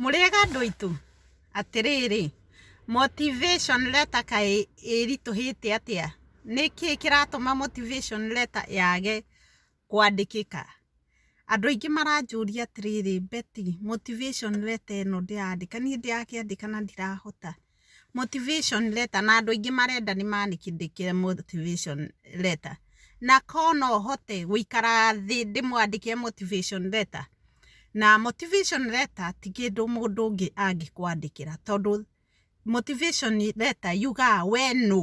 Mũrĩega andũ aitũ? Atĩrĩrĩ, motivation letter kaĩ ĩritũhĩte atĩa? Nĩkĩ kĩratũma motivation letter yage kwandĩkĩka? Andũ aingĩ maranjũria atĩrĩrĩ, Betty, motivation letter ĩno ndĩrandĩka, niĩ ndĩrakĩandĩka na ndirahota. Motivation letter na andũ aingĩ marenda nĩ maandĩkĩre motivation letter. Na korwo no hote gũikara thĩ ndĩmwandĩkĩre motivation letter. Na motivation letter ti kĩndũ mũndũ ũngĩ angĩkwandĩkĩra tondũ motivation letter yugaga we nũ.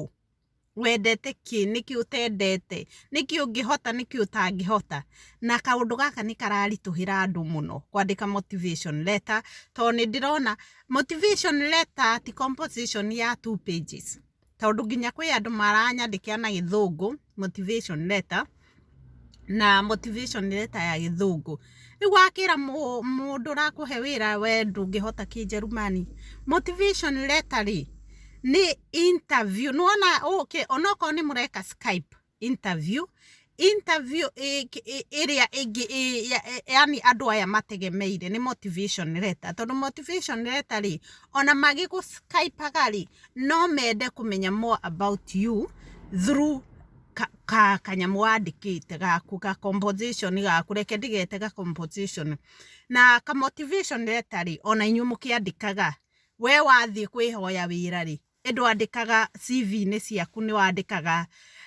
wendete kĩ, nĩkĩ ũtendete, nĩkĩ ũngĩhota, nĩkĩ ũtangĩhota. Na kaũndũ gaka nĩ kararitũhĩra andũ mũno kwandĩka motivation letter, to nĩ ndĩrona motivation letter ti composition ya two pages, tondũ nginya kwĩ andũ maranyandĩkĩra na gĩthũngũ motivation letter. na motivation letter ya gĩthũngũ. Rĩu wakĩra mũndũ ũrakũhe wĩra we ndũngĩhota kĩnjerumani, motivation letter rĩ, nĩ interview. Nĩ wona ũũkĩ, ona okorwo nĩ mũreka Skype interview, interview ĩrĩa ĩngĩ yaani andũ aya mategemeire nĩ motivation letter. Tondũ motivation letter rĩ, ona magĩgũ Skype aga rĩ, no mende kũmenya more about you through... ka, ka kanyamũ wandĩkĩte gaku ga composition gaku reke ndigete ga composition na ka motivation letter rĩ ona inyuĩ mũkĩandĩkaga we wathiĩ kwĩhoya wĩra rĩ ĩndũ andĩkaga CV-inĩ ciaku nĩ wandĩkaga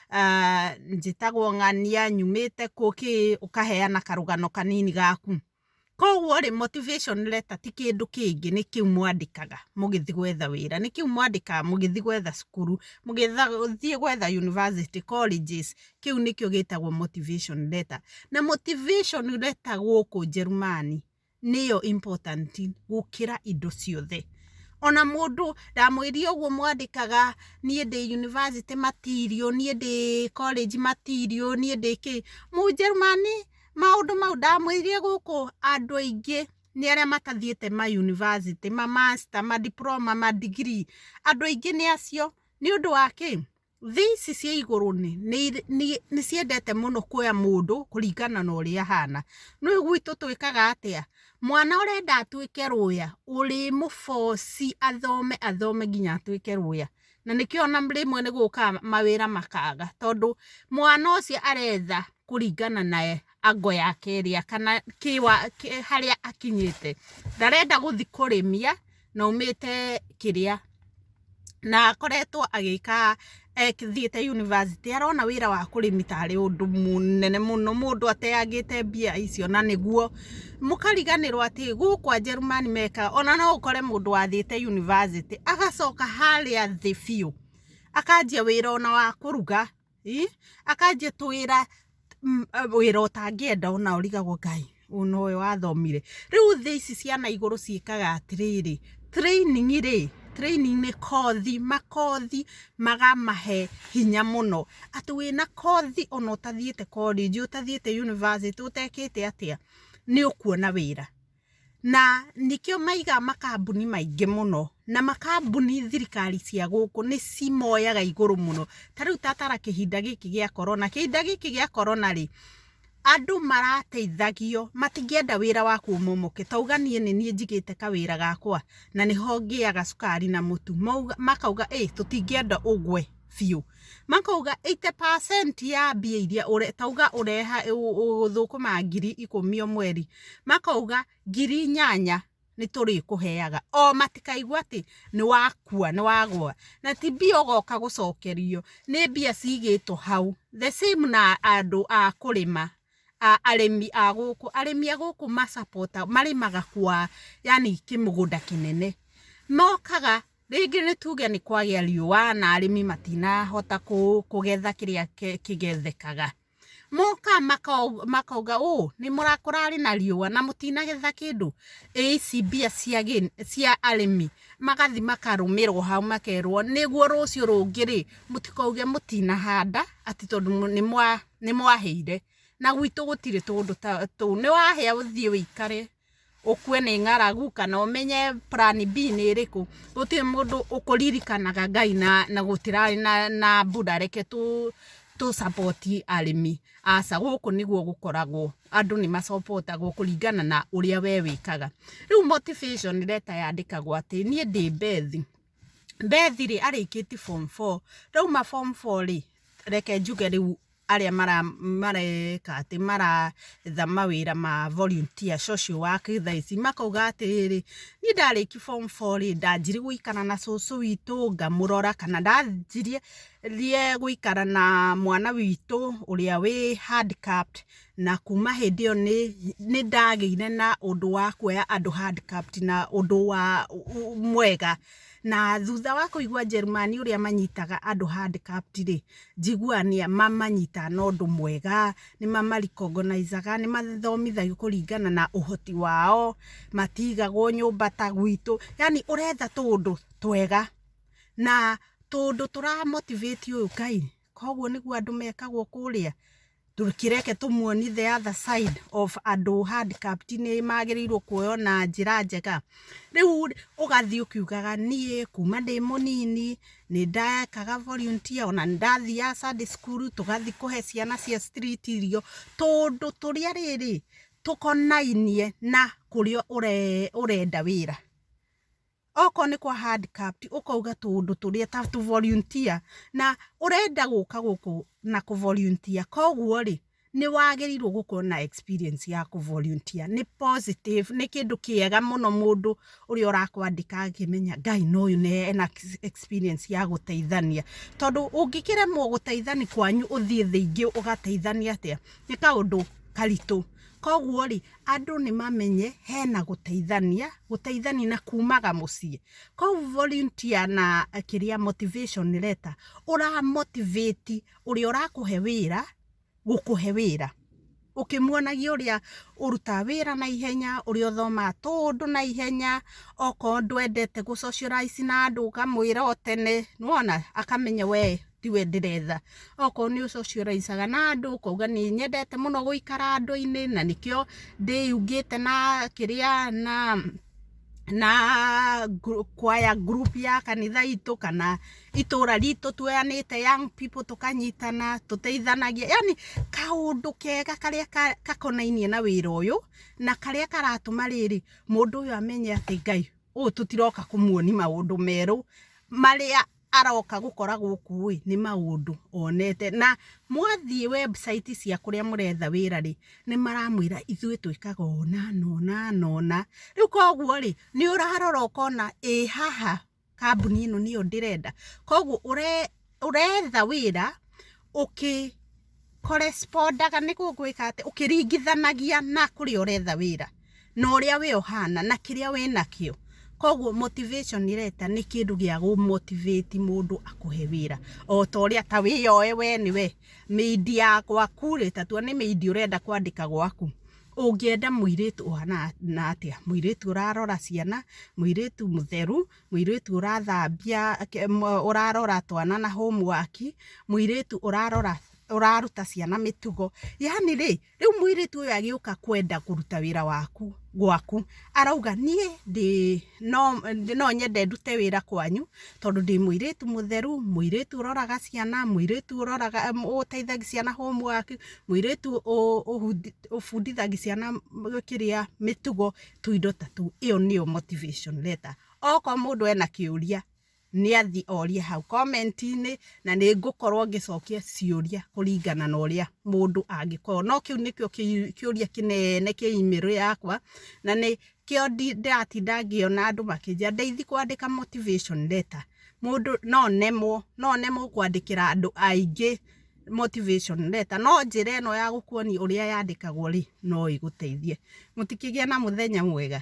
uh, njĩtagwo ng'ania nyumĩte kũ kĩ ũkaheana karũgano kanini gaku Koguo rĩ motivation letter ti kĩndũ kĩngĩ nĩ kĩu mwandĩkaga mũgĩthiĩ gwetha wĩra, nĩ kĩu mwandĩkaga mũgĩthiĩ gwetha cukuru, mũgĩthiĩ gwetha university, colleges, kĩu nĩkĩo gĩtagwo motivation letter. Na motivation letter gũkũ Njerumani nĩyo important gũkĩra indo ciothe. Ona mũndũ ndamwĩrire ũguo mwandĩkaga niĩ ndĩ university material, niĩ ndĩ college material, niĩ ndĩ kĩĩ. Mũnjerumani maũndũ mau ndamwĩirie gũkũ andũ aingĩ nĩ arĩa matathiĩte ma university ma master ma diploma ma degree andũ aingĩ nĩ acio nĩ ũndũ wa kĩ thĩ ici cia igũrũ nĩ nĩ- nĩ- nĩ ciendete mũno kuoya mũndũ kũringana na ũrĩa ahana no gwitũ twĩkaga atĩa mwana ũrenda atuĩke rũya ũrĩmũboci athome athome nginya atuĩke rũya na nĩkĩo na rĩmwe nĩ gũkaga mawĩra makaga tondũ mwana ũcio aretha kũringana na ango yake ĩrĩa kana harĩa akinyĩte. Ndarenda gũthiĩ kũrĩmia na aumĩte kĩrĩa, na akoretwo agĩka athiĩte yunibacĩtĩ arona wĩra wa kũrĩmi tarĩ ũndũ mũnene mũno mũndũ ateangĩte mbia icio na nĩguo mũkariganĩrwo atĩ gũkũ Ajerumani meka ona no ũkore mũndũ wathĩte yunivasĩtĩ agacoka harĩa thĩ biũ akanjia wĩra ona wa kũruga ii, akanjia tũwĩra mm, eh, wĩra ũtangĩenda ona ũrigagwo ngai ũno ũyũ wathomire rĩu thĩ ici ciana igũrũ ciĩkaga atĩrĩrĩ training rĩ training nĩ kothi makothi magamahe hinya mũno, atĩ wĩna kothi ona ũtathiĩte korĩnji, ũtathiĩte yunibacĩtĩ, ũtekĩte atĩa, nĩ ũkuona wĩra. Na nĩkĩo maigaga makambuni maingĩ mũno, na makambuni thirikari cia gũkũ nĩ cimoyaga igũrũ mũno. Ta rĩu ta tara kĩhinda gĩkĩ gĩa korona, kĩhinda gĩkĩ gĩa korona rĩ, Andũ marateithagio matingĩenda wĩra waku ũmomoke, ta uga niĩ nĩ niĩ njigĩte kawĩra gakwa na nĩho ngĩaga cukari na mũtu, makauga ĩ tũtingĩenda ũgwe biũ. Makauga eighty percent ya mbia iria ũrĩ, ta uga ũrĩ thũkũma ngiri ikũmi o mweri, makauga ngiri inyanya. nĩ tũrĩkũheaga. O matikaigue atĩ nĩ wakua, nĩ wagũa. Na ti mbia ũgoka gũcokerio, nĩ mbia cigĩtwo hau. The same na andũ a kũrĩma, arĩmi a gũkũ. Arĩmi a gũkũ ma support agwo, marĩmaga kwa yani kĩmũgũnda kĩnene. Mokaga, rĩngĩ nĩ tuge nĩ kwagĩa riũa na arĩmi matinahota kũgetha kĩrĩa kĩgethekaga. Moka makauga ũũ, kũrarĩ na riũa na mũtinagetha kĩndũ, ĩ ici mbia cia arĩmi, magathiĩ makarũmĩrwo hau makerwo nĩguo rũciũ rũngĩ rĩ, mũtikauge mũtinahanda atĩ tondũ nĩ mwahĩire, na gwitũ gũtirĩ tũndũ tũu, nĩ wahĩa ũthiĩ ũikare. ũkue nĩ ng'aragu kana ũmenye plan B nĩ ĩrĩkũ. Gũtirĩ mũndũ ũkũririkanaga Ngai na gũtirarĩ na mbura reke tũ support arĩmi, aca gũkũ nĩguo gũkoragwo, andũ nĩ ma support agwo kũringana na ũrĩa we wĩkaga. Rĩu motivation letter yandĩkagwo atĩ, niĩ ndĩ Beth, Beth rĩ arĩkĩtie form four, ndauma form four rĩ reke njuge rĩu arĩa mareka atĩ maretha mawĩra ma volunteer social work thaa ici makauga atĩrĩrĩ, niĩ ndarĩkia form four rĩ ndanjirie gũikara na cũcũ witũ ngamũrora kana ndanjirie gũikara na mwana witũ ũrĩa wĩ handcapped na kuma hĩndĩ ĩyo nĩ ndagĩire na ũndũ wa kuoya andũ handcapped na ũndũ mwega. Na thutha wa kũigua Njerumani ũrĩa manyitaga andũ handcuffed rĩ, njiguaga nĩ mamanyitaga na ũndũ mwega, nĩ mama recognize aga, nĩ mathomithagio kũringana na ũhoti wao, matigagwo nyũmba ta gwitũ, yaani ũretha tũũndũ twega na tũũndũ tũra motivate ũyũ Ngai. koguo nĩguo andũ mekagwo kũrĩa tũkĩreke tũmuoni the other side of andũ handicraft nĩ magĩrĩirwo kuoywo na njĩra njega rĩu ũgathiĩ ũkiugaga niĩ kuma ndĩ mũnini nĩ ndekaga volunteer ona nĩ ndathiaga Sunday school tũgathiĩ kũhe ciana cia street irio tũndũ tũrĩa rĩrĩ tũkonainie na kũrĩa ũrenda wĩra okorwo nĩ kwa handicraft ũkauga tũũndũ tũrĩa ta tũ volunteer na ũrenda gũka gũkũ na kũ volunteer koguo rĩ nĩ wagĩrĩirwo gũkorwo na experience ya kũ volunteer nĩ positive nĩ kĩndũ kĩega mũno mũndũ ũrĩa ũrakwandĩka akĩmenya Ngai no ũyũ na ena experience ya gũteithania tondũ ũngĩkĩremwo gũteithania kwanyu ũthiĩ thĩ ingĩ ũgateithania atĩa nĩ kaũndũ karitũ koguo rĩ andũ nĩ mamenye hena gũteithania, gũteithania na kumaga mũciĩ. Kũu volunteer na kĩrĩa motivation letter, ũra motivate ũrĩa ũrakũhe wĩra gũkũhe wĩra. Ũkĩmuonagia ũrĩa ũrutaga wĩra na ihenya, ũrĩa ũthomaga tũũndũ na ihenya, okorwo ndwendete gũ socialize na andũ ũkamwĩra o tene, nĩ wona, akamenya wee... tiwe ndĩretha okorwo nĩ ũcocioraicaga na andũ ũkauga nĩ nyendete mũno gũikara andũ-inĩ na nĩkĩo ndĩyungĩte na kĩrĩa na na kwaya group ya kanitha itũ kana itũra ritũ tuoyanĩte young people tũkanyitana tũteithanagia yani kaũndũ kega karĩa gakonainie na wĩra ũyũ na karĩa karatũma rĩrĩ mũndũ ũyũ amenye atĩ Ngai ũyũ tũtiroka kũmuonia maũndũ merũ marĩa aroka gũkora gũkũ ĩ nĩ maũndũ onete na mwathiĩ website cia kũrĩa mũretha wĩra rĩ nĩ maramwĩra ithuĩ twĩkaga ũũ na ũna na ũna, rĩu kwoguo rĩ nĩ ũrarora ũkona ĩ haha kambuni ĩno nĩyo ndĩrenda, kwoguo ũretha wĩra Correspondaga nĩ gũgwĩka atĩ, ũkĩringithanagia na kũrĩa ũretha wĩra, na ũrĩa we ũhana, na kĩrĩa wĩ nakĩo. Koguo motivation letter nĩ kĩndũ gĩa gũ motivate mũndũ akũhe wĩra. O ta ũrĩa ta wĩyoe we nĩ we, maid ya gwaku rĩ, ta tua nĩ maid ũrenda kwandĩka gwaku, ũngĩenda mũirĩtu ũhana atĩa? Mũirĩtu ũrarora ciana, mũirĩtu mũtheru, Mũirĩtu ũrathambia, ũrarora twana na homework, mũirĩtu ũrarora, ũraruta ciana mĩtugo, yaani rĩ, rĩu mũirĩtu ũyũ agĩũka kwenda kũruta wĩra waku, gwaku, arauga niĩ ndĩ, no, no nyende ndute wĩra kwanyu, tondũ ndĩ mũirĩtu mũtheru, mũirĩtu ũroraga ciana, mũirĩtu ũroraga, ũteithagia ciana homework, mũirĩtu ũ, ũbundithagia ciana kĩrĩa, mĩtugo. tũindo ta tũu, ĩyo nĩyo motivation letter. Okorwo mũndũ ena kĩũria, nĩ athiĩ orie hau comment -inĩ, na nĩ ngũkorwo ngĩcokia ciũria kũringana na ũrĩa mũndũ angĩkorwo. No kĩu nĩkĩo kĩũria kĩnene kĩ email yakwa, na nĩkĩo ndĩratinda ngĩona andũ makĩnjĩra Ndeithi kwandĩka motivation letter mũndũ no nemwo, no nemwo kwandĩkĩra andũ aingĩ. motivation letter no njĩra ĩno ya gũkuonia ũrĩa yandĩkagwo rĩ no ĩgũteithie. Mũtikĩgĩe na mũthenya mwega.